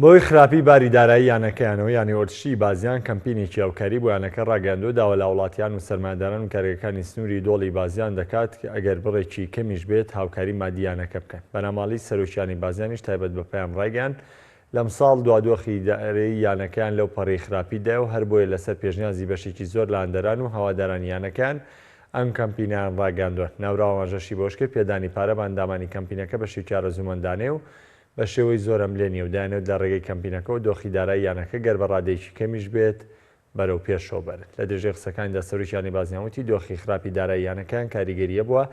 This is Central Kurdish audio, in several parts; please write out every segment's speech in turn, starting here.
بەهۆی خراپی باری دارایی یانەکەیانەوە یانەی ئۆرتشی بازیان کەمپینێکی هاوکاری بۆ یانەکە راگەیاندوە داوا لە هاوڵاتیان و سەرمایەداران و کارگەکانی سنوری دۆڵی بازیان دەکات کە ئەگەر بڕێکی کەمیش بێت هاوکاری مادی یانەکە بکەن بەناماڵی سەرۆک یانەی بازیانیش تایبەت بە پەیام رایگەیاند لەمساڵ دوا دۆخی دارەیی یانەکەیان لەو پەڕی خراپی دایەو هەر بۆیە لەسەر پێشنیازی بەشێکی زۆر لە هاندەران و هەوادارانی یانەکەیان ئەم کەمپینەیان راگەیاندوە ناوراو ئاماژەشی بەوەشکرد پێدانی پارە بە ئەندامانی کەمپینەکە بەشێکی ئارەزومەندانەیەو بە شێوەی زۆر ئەملێ نییە و دەیانەوێت لە رێگەی کەمپینەکەوە دۆخی دارایی یانەکە گەر بە رادەیەکی کەمیش بێت بەرەو پێشەوە بەرن. لە درێژەی قسەکانیدا سەرۆکی یانەی بازنیان وتی دۆخی خراپی دارایی یانەکەیان کاریگەریی هەبووە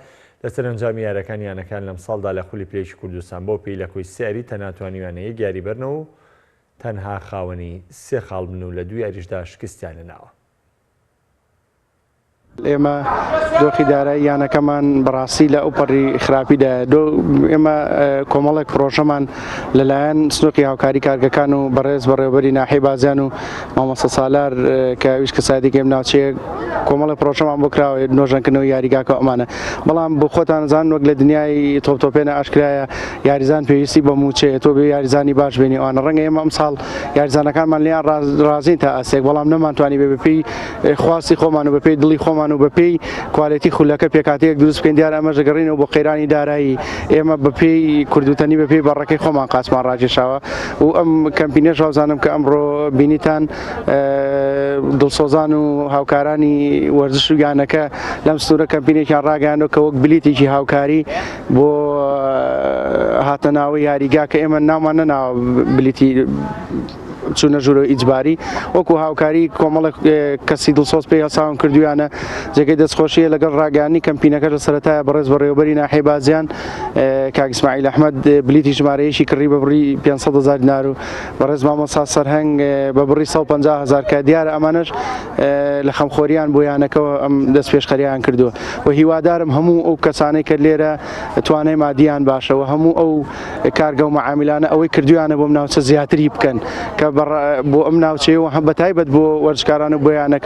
لەسەر ئەنجامی یاریەکانی یانەکەیان لەمساڵدا لە خولی پلەیەکی کوردستان بەو پێی لە کۆی سێ یاری تەنها توانیویانە یەک یاری بەرنەوە و تەنها خاوەنی سێ خاڵ بن و لە دوو یاریشدا شکستیان هێناوە. ئێمە دۆخی دارایی یانەکەمان بەڕاستی لە ئەو پەڕی خراپیدا ئێمە کۆمەڵێک پرۆژەمان لەلایەن سنوقی هاوکاری کارگەکان و بەڕێز بەڕێوبەری ناحی بازیان و مامۆستا سالار کە ویش کەسادیگەم ناوچەیە کۆمەڵی پرۆژەمان بۆ کراوە نۆژەنکردنەوە یاریگاکە ئەمانە بەڵام بۆ خۆتان زان وەک لە دنیای تۆپتۆپێنە ئاشکرایە یاریزان پێویستی بە موچەیە تۆ بێ یاریزانی باش بێنی ئەوانە ڕەنگە ئێمە ئەمساڵ یاریزانەکانمان لیان ڕازین تا ئەسێک بەڵام نەمانتوانی بێ بپی خواستی خۆمان و بەپێی دڵی خۆمان و بەپێی کوالێتی خولەکە پێکاتەیەک دروست بکەین دیارە ئەمەش دەگەڕینەوە بۆ قەیرانی دارایی ئێمە بەپێی کوردوتەنی بەپێی بەڕەکەی خۆمان قاسمان ڕاکێشاوە و ئەم کەمپینێش وازانم کە ئەمڕۆ بینیتان دڵسۆزان و هاوکارانی وەرزش و یانەکە لەم سنوورە کەمپینێکیان ڕاگەیانەوە کە وەک بلیتێکی هاوکاری بۆ هاتە ناوە یاریگا کە ئێمە نامان نەناوە بلیتی چوونە ژوورەوە ئیجباری وەکو هاوکاری کۆمەڵک کەسی دڵسۆز پێی هەساون کردویانە جێگەی دەستخۆشیە لەگەڵ ڕاگەانی کەمپینەکە لە سەرەتایە بەڕێز بەڕێوبەری ناحی بازیان کاگسماعیل ئەحمد بلیتی ژمارەیەشی کڕی بە بڕی 500 هزار دینار و بەڕێز مامۆسا سەرهەنگ بە بڕی 150 هزار کە دیارە ئەمانش لە خەمخۆریان بۆ یانەکەەوە ئەم دەست پێشخەریان کردووە و هیوادارم هەموو ئەو کەسانەی کە لێرە توانای مادیان باشەوە هەموو ئەو کارگە و مەعامیلانە ئەوەی کردویانە بۆم ناوچە زیاتری بکەن کە بۆ ئەم ناوچەیەوە هەم بەتایبەت بۆ وەرزشکاران و بۆیانەکە